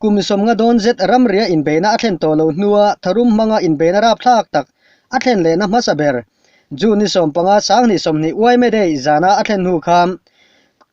Kum sawmnga dawn zet ramria inbeina a thlen tawh lo hnua tharum hmanga inbeina rapthlak tak a thlen lehna hmasa ber, June ni sawm panga Sanghnih sawmhnih Uaime Day zana a thlen hnu kha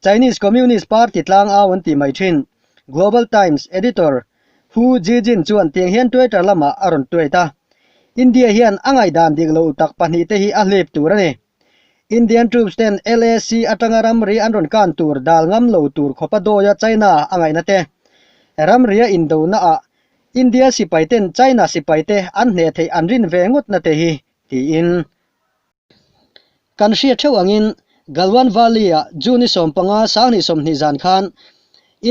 Chinese Communist Party tlang au an tih mai thin. Global Times Editor Hu Zijin chuan tiang hian Twitter lamah a rawn tweet a, India hian a ngaihdan dik lo utak pahnih te hi a hlip tur a ni. Indian troops ten LAC atanga ramri an rawn kan tur dal ngam lo tur khawpa dawia China a ngaihna te, ramria indona ah India sipai ten China sipai te an hneh theih an rin ve ngawt na te hi tiin kan hriat theuh angin Galwan Valley ah June i sawm panga sang hnih sawmhnih zan khan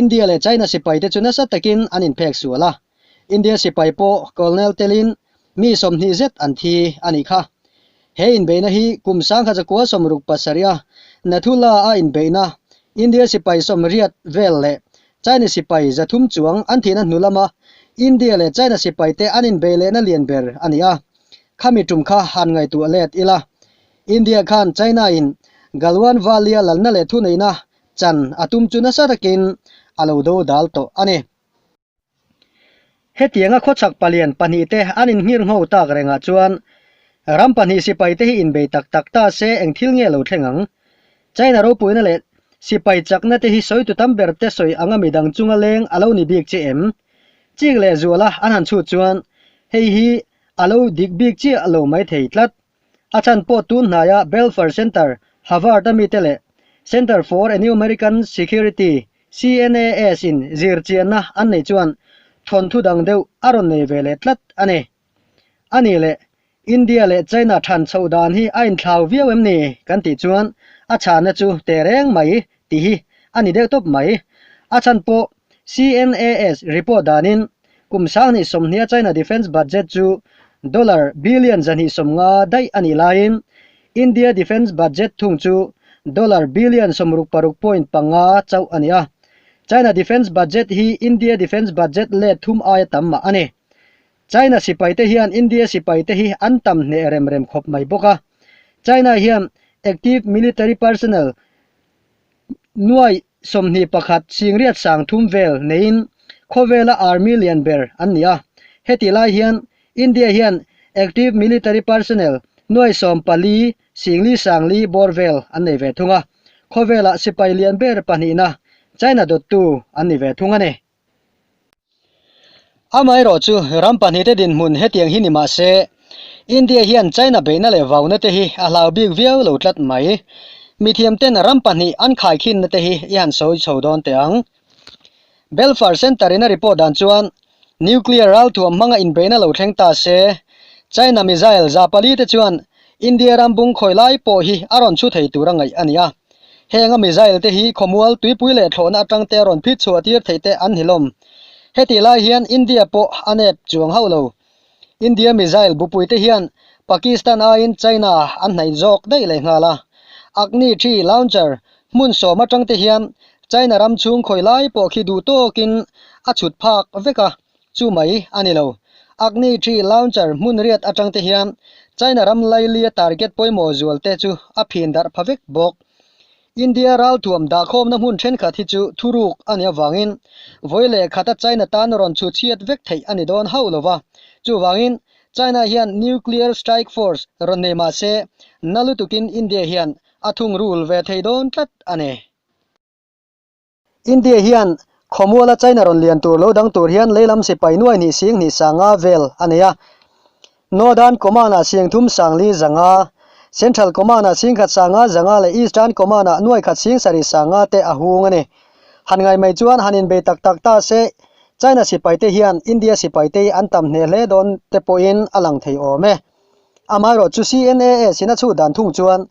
India leh China sipai te chu nasa takin an in phek sual a. India sipai pawh Colonel telin mi sawmhnih zet an thi a ni kha. He inbeihna hi kum sang kha Zakua Sawmruk Pasaria Nathula a inbeihna India sipai sawmriat vel leh China sipai zathum chuang an thihna hnu lama India leh China sipaite an inbeih lehna lian ber a ni a. Khami tum kha han ngaihtuah let ila India khan China-in Galwan Valia lalna leh thuneihna chan a tum chu nasa takin a lo dodal tawh a ni. Hetianga khawchhak palian pahnihte an inhngir ngho tak rengah chuan ram pahnih sipaite hi inbei tak tak ta se eng thil nge lo thleng ang? China ropuina leh sipai chaknate hi sawi tutam berte sawi anga midang chunga leng a lo ni bik che em? Chik leh zuala an han chhut chuan hei hi a lo dik bik chiah lo mai thei tlat. A chhan pawh tun hnaia Belfer Center, Havard a mite leh Center for Enumerican Security, CNAS, in zirchianna an nei chuan thawnthu dang deuh a rawn nei ve leh tlat a ni. A ni le, India leh China than chhoh dan hi a inthlau viau em ni kan tih chuan a chhanna chu teh reng mai tih hi a ni deuh tawp mai. A chhan pawh CNAS report danin Kum sang hnih sawmhnia China defence budget chu dollar billion zahnih sawmnga daih a nih laiin India defence budget thung chu dollar billion sawmruk paruk point panga chauh a ni a. China defence budget hi India defence budget let thum aia tam mah a ni. China sipaite hian India sipaite hi an tam hneh rem rem khawp mai bawk a. China hian active military personnel Nuai sawmhnih pakhat Singriat sang thum vel neiin khawvela army lian ber an ni a. Heti lai hian India hian Active Military Personnel nuai sawm pali Singli Sangli bawr vel an nei ve thung a. Khawvelah sipai lian ber pahnihna China dawttu an ni ve thung a ni. Amaherawh chu, ram pahnihte dinhmun hetiang hi ni mah se, India hian China beihna leh vaunate hi a hlau bik viau lo tlat mai. Mithiamten ram pahnih an khaikhinnate hi i han sawi chho dawn teh ang. Belfar Centre-in a report dan chuan, Nuclear ralthuam hmanga inbeihna lo thleng ta se, China missile za palite chuan India ram bung khawi lai pawh hi a rawn chhu thei tur a ngaih a ni a, Heng a missile te hi khawmual, tuipui leh thlawhna atangte a rawn phit chhuah tir theih te an ni hlawm. Heti lai hian India pawh a nep chuang hauh lo. India missile bupui te hian Pakistan aiin China an hnaih zawk daih leh nghal a. Agni three launcher hmun sawm atangte hian China ram chhung khawi lai pawh khi duh tawkin a chhut phak vek a, Chu mai a ni lo. Agni Tree Launcher hmunriat atangte hian China ram lailia target pawimawh zualte chu a phindarh pha vek bawk. India raltuam dahkhawmna hmun thenkhat hi chu thuruk a nih avangin vawi leh khata China tan rawn chhutchhiat vek theih a ni dawn hauh lo va. Chuvangin China hian Nuclear Strike Force rawn nei mah se, na lutukin India hian a thungrul ve thei dawn tlat a ni. India hian khawmuala China rawn lian tur lo dang tur hian Leilam Sipai nuai hnih sing hnih sanga vel a nei a. Northern Command-ah siangthum sangli zanga, Central Command-ah singkhat sanga zanga leh Eastern Command-ah nuaikhat sing sarih sanga te a hung a ni. Han ngai mai chuan han inbei tak tak ta se, China sipai te hian India sipai te hi an tam hneh hle dawn te pawhin a lang thei awm e. Amaherawhchu CNAS-in a chhut dan thung chuan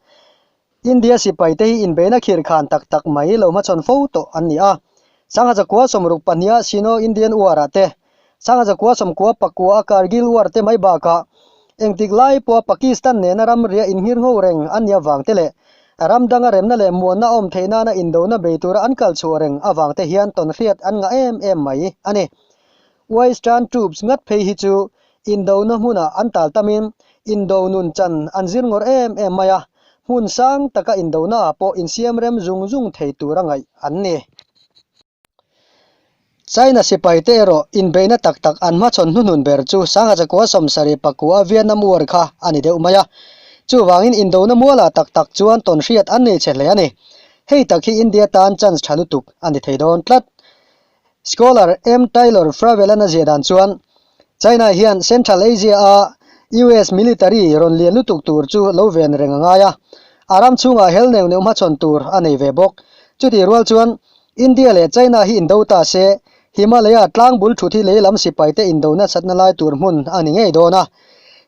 India sipai te hi inbeina khir khan tak tak mai lo hma chhawn fo tawh an ni a. Sanghaja kua sawmruk pahniha Sino Indian war ah te, Sanghaja kua sawmkua pakua a Kargil war te mai bakah engtik lai pawha Pakistan nena ram ria inhngir ngho reng an ni avang te leh ram danga remna leh muanna a awm theih nana indona bei tura an kal chhuah reng avang te hian tawnhriat an ngah em em mai a ni. Western troops ngat phei hi chu indohna hmuna an tal tamin indoh nun chan an zir ngawr em em mai a, hmun sang taka indohnaah pawh insiam rem zung zung thei tur a ngaih an ni. China sipai te erawh inbeihna tak tak an hmachhawn hnuhnun ber chu Sangha Chakua Sawmsari pakua Vietnam War kha a ni deuh mai a, chuvangin indohna muala tak tak chuan tawn hriat an nei chhe hle a ni. Hei tak hi India tan chance tha lutuk a ni thei dawn tlat. Scholar M. Taylor Fravel-an a ziah dan chuan, China hian Central Asia a US military rawn lian lutuk tur chu lo ven reng a ngai a, a ram chhungah hel neuh neuh hmachhawn tur a nei ve bawk. Chutih rual chuan India leh China hi indo ta se, Himalaya tlangbul thut hi lehlam sipaite indo nasatna lai tur hmun a ni ngei dawn a.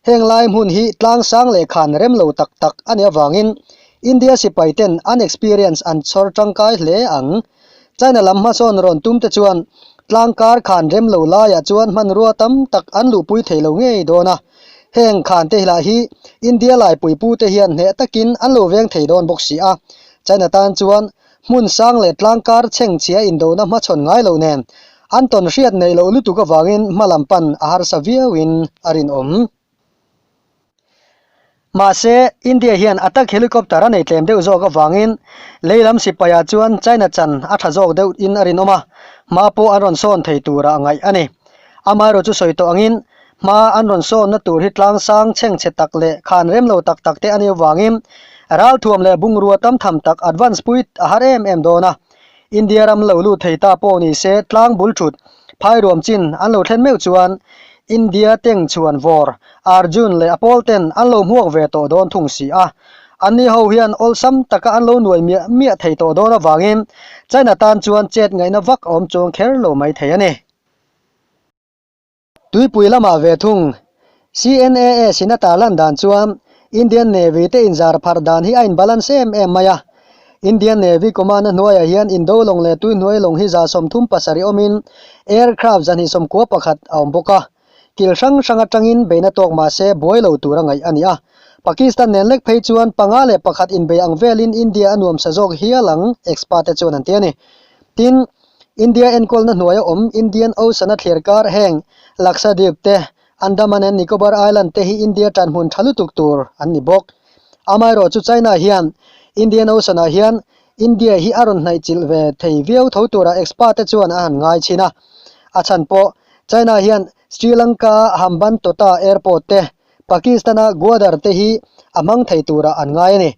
Heng lai hmun hi tlang sang leh khan rem lo tak tak a ni avangin India sipaiten an experience an chhawr tangkai hle ang. China lam hmasawn rawn tumte chuan tlang kar khan rem lo laiah chuan hmanrua tam tak an luhpui thei lo ngei dawn a. Heng khan te lah hi India laipui pute hian hneh takin an lo veng thei dawn bawk si a. China tan chuan hmun sang leh tlang kar chhengchhia indona hmachhawn ngai lo nen an tawn hriat neih loh lutuk avangin hmalam pan a harsa viauin a rinawm. Mahse, India hian attack helicopter a nei tlem deuh zawk avangin lei lam sipaia chuan China chan a tha zawk deuh in a rinawm a, hma pawh an rawn sawn thei tura a ngaih a ni. Amaherawh chu sawi tawh angin, hma an rawn sawnna tur hi tlangsang chheng chhe tak leh khan rem lo tak tak te a ni avangin, ralthuam leh bungrua tam tham tak advance pui a har em em dawn a. India ram lo lut thei ta pawh ni se tlang bul thut phairuam chin an lo thlen meuh chuan India teng chuan vawr Arjun leh a pawl ten an lo hmuak ve tawh dawn thung si a, an ni ho hian awlsam taka an lo nuai miah miah thei tawh dawn avangin China tan chuan chet ngaihna vak a awm chuang kher lo mai thei a ni. Tuipui lama ve thung, CNAA Sinata lan dan chuan Indian Navy te inzar pharh dan hi a inbalance em em mai a. Indian Navy Command-a hnuaiah hian Indo lawng leh Tuihnuai lawng hi za sawm thum pasarih awmin aircraft zahnih sawm kua pakhat a awm bawk a, kil hrang hrang atangin beina tawk mahse buai lo tur a ngaih a ni a. Pakistan nen lek phei chuan panga leh pakhat inbei ang velin India a nuamsa zawk hial ang expert-te chuan an ti a ni. Tin, India enkawlna hnuaia awm Indian Ocean-a thlerkar heng Lakshadweep te, Andaman and Nicobar Island te hi India tanhmun tha lutuk tur an ni bawk. Amaherawh chu China hian Indian Ocean-ah hian India hi a rawn hnaihchilh ve thei viau tho turah expert-te chuan a han ngai chhin a. A chhan pawh, China hian Sri Lanka-a Hambantota Airport te, Pakistan-a Gwadar te hi a hmang thei turah an ngai a ni.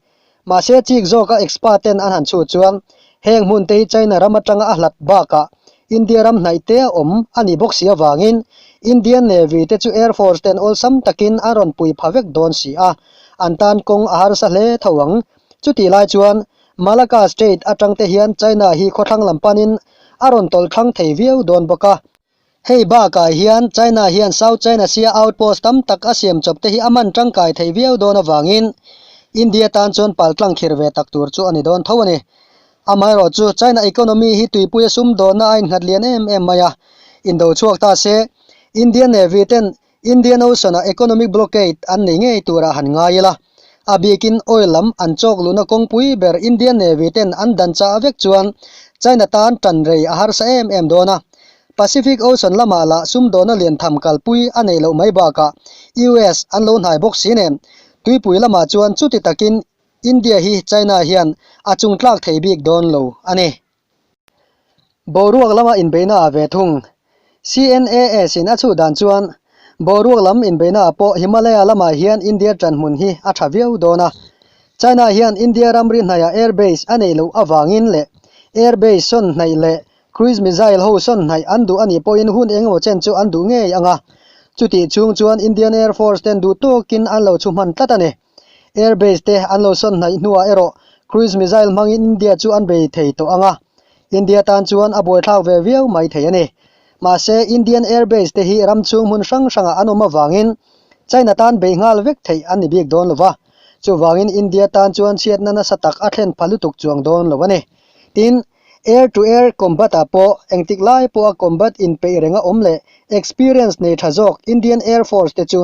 Mahse, chik zawka expert-ten an han chhut chuan heng hmunte hi China ram atanga a hlat bakah India ram hnaihte a awm a ni bawk si avangin Indian Navy te chu Air Force ten awlsam takin an rawn pui pha vek dawn si a, an tan kawng a harsa hle tho ang. Chuti lai chuan Malacca Strait atangte hian China hi khawthlang lam panin a rawn tawlh thang thei viau dawn bawk a. Hei bakah hian China hian South China Sea-a outpost tam tak a siam chawpte hi a man tangkai thei viau dawn avangin India tan chuan paltlang khir ve tak tur chu a ni dawn tho a ni. Amaherawh chu, China economy hi tuipui a sum dawnah a innghat lian em em mai a. Indo chhuak ta se, Indian Navy ten Indian Ocean-a economic blockade an nei ngei tura han ngai ila, a bikin oil lam an chawk luhna kawngpui ber Indian Navy ten an dan cha vek chuan China tan tan rei a harsa em em dawn a. Pacific Ocean lama lah sumdawna lian tham kalpui a neih loh mai bakah US an lo hnai bawk si nen, tuipui lama chuan chuti takin India hi China hian a chungtlak thei bik dawn lo a ni. Boruak lama inbeihna ah ve thung. CNAS in a chhuh dan chuan boruak lam inbeihna ah pawh Himalaya lamah hian India ṭan hmun hi a ṭha viau dawn a. China hian India ramri hnaihah air base a neih loh avangin leh air base sawn hnaih leh cruise missile ho sawn hnaih an duh a nih pawhin hun engemaw chen chu an duh ngei ang a. Chutih chhung chuan Indian Air Force ten duhtawkin an lo chhuhman tlat a ni. Air base te an lo sawn hnaih hnuah erawh cruise missile hmangin India chu an bei thei tawh ang a, India tan chuan a buaithlak ve viau mai thei a ni. Mahse, Indian air base te hi ram chhung hmun hrang hrangah an awm avangin China tan bei nghal vek theih an ni bik dawn lo va, chuvangin India tan chuan chhiatna nasa tak a thlen pha lutuk chuang dawn lo a ni. Tin, air to air combat ah pawh engtik lai pawha combat inpeih renga awm leh experience nei tha zawk Indian Air Force te chu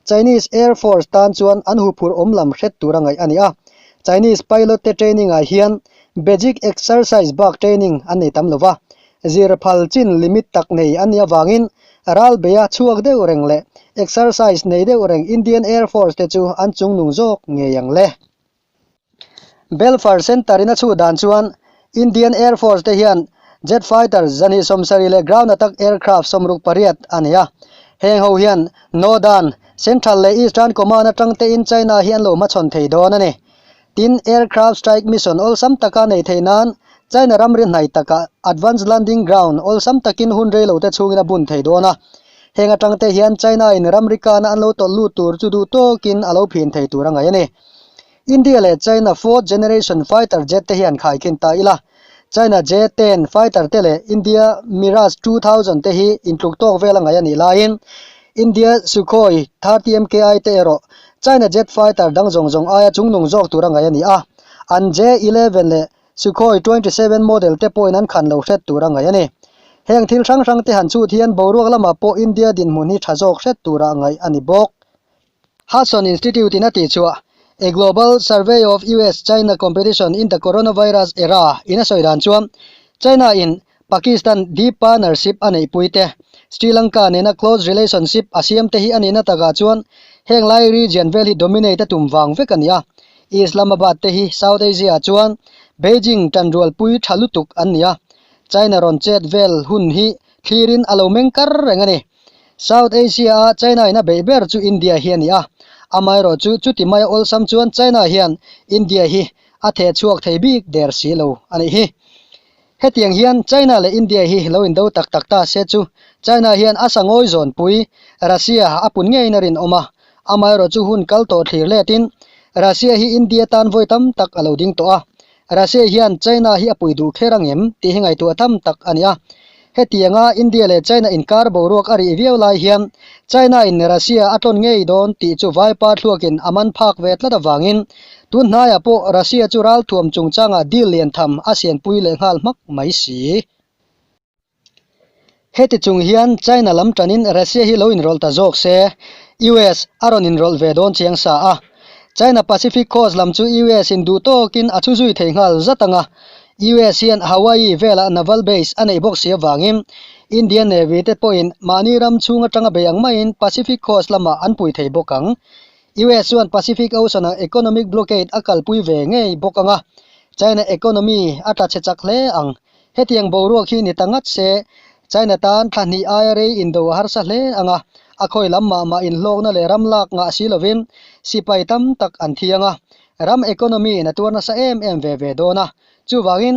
Chinese Air Force tan chuan an huphurh awm lam hret tur a ngaih a ni a. Chinese pilot te training ah hian basic exercise bak training an nei tam lova, zir phal chin limit tak nei a nih avangin ral beia chhuak deuh reng leh exercise nei deuh reng Indian Air Force te chu an chungnung zawk ngei ang le. Belfast Centre in a chhut dan chuan Indian Air Force te hian Jet Fighter zahnih sawm sarih leh ground attack aircraft sawm ruk pariat a nei a. Heng ho hian Northern, Central leh Eastern Command atangte in China hi an lo hmachhawn thei dawn a ni. Tin, aircraft strike mission awlsam taka nei thei nan China ramri hnai takah advanced landing ground awlsam takin hun rei lote chhungin a bun thei dawn a. Heng atang te hian China-in ramrikana an lo tawlh lut tur chu duh tawkin a lo phin thei tur a ngaih a ni. India leh China fourth generation fighter jet te hian khaikhin ta ila, China J ten fighter te leh India Mirage two thousand te hi intluk tawk vel a ngaih a nih laiin India Sukhoi thirty MKI te erawh China jet fighter dang zawng zawng aia chungnung zawk tur a ngaih a ni a, an J eleven leh Sukhoi twenty seven model te pawhin an khan lo hret tur a ngaih a ni. Heng thil hrang hrangte han chut hian boruak lamah pawh India dinhmun hi tha zawk hret tur a ngaih a ni bawk. Hudson Institute-in a tihchuah, A Global Survey of US-China Competition in the Coronavirus Era-in a sawi dan chuan China-in Pakistan deep partnership a neihpui te, Sri Lanka nena close relationship a siam te hi a nihna takah chuan heng lai region vel hi dominate a tum vang vek a ni a. Islamabad te hi South Asia-ah chuan Beijing tanrualpui tha lutuk an ni a, China rawn chet vel hun hi thlirin a lo meng kar reng a ni. South Asia-a China in a beih ber chu India hi a ni a, amaherawh chu chuti mai a awlsam chuan China hian India hi a theh chhuak thei bik der si lo a nih hi. Hetiang hian China leh India hi lo in do tak tak ta se chu, China hian a sangawi zawnpui Russia a pun ngeiin a rinawm a, amaherawh chu hun kal tawh thlir letin Russia hi India tan vawi tam tak a lo ding tawh a, Russia hian China hi a pui duh kher ang em tih hi ngaihtuah tham tak a ni a. Hetianga India leh China inkar boruak a rih viau lai hian China-in Russia a tlawn ngei dawn tih chu Vaipa thluakin a man phak ve tlat avangin, Tun hnaiah pawh Russia chu ral thuam chungchangah deal lian tham a sianpui leh nghal hmak mai si. Heti chung hian China lam tanin Russia hi lo inrawlh ta zawk se, US a rawn inrawlh ve dawn chiang sa a. China Pacific Coast lam chu US in duh tawkin a thu zui thei nghal zat anga, US hian Hawaii velah Naval Base a neih bawk si avangin Indian Navy te pawhin mahni ram chhung atanga bei ang maiin Pacific Coast lamah an pui thei bawk ang. US chuan Pacific Ocean ah economic blockade a kalpui ve ngei bawk anga, China economy a tla chhe chak hle ang. Hetiang boruak hi ni ta ngat se, China tan thla hnih aia rei in do a harsa hle ang a, a khawi lam mah mah in hlawkna leh ram lak ngah si lovin sipai tam tak an thiang a, ram economy in a tuar nasa em em ve ve dawn a, chuvangin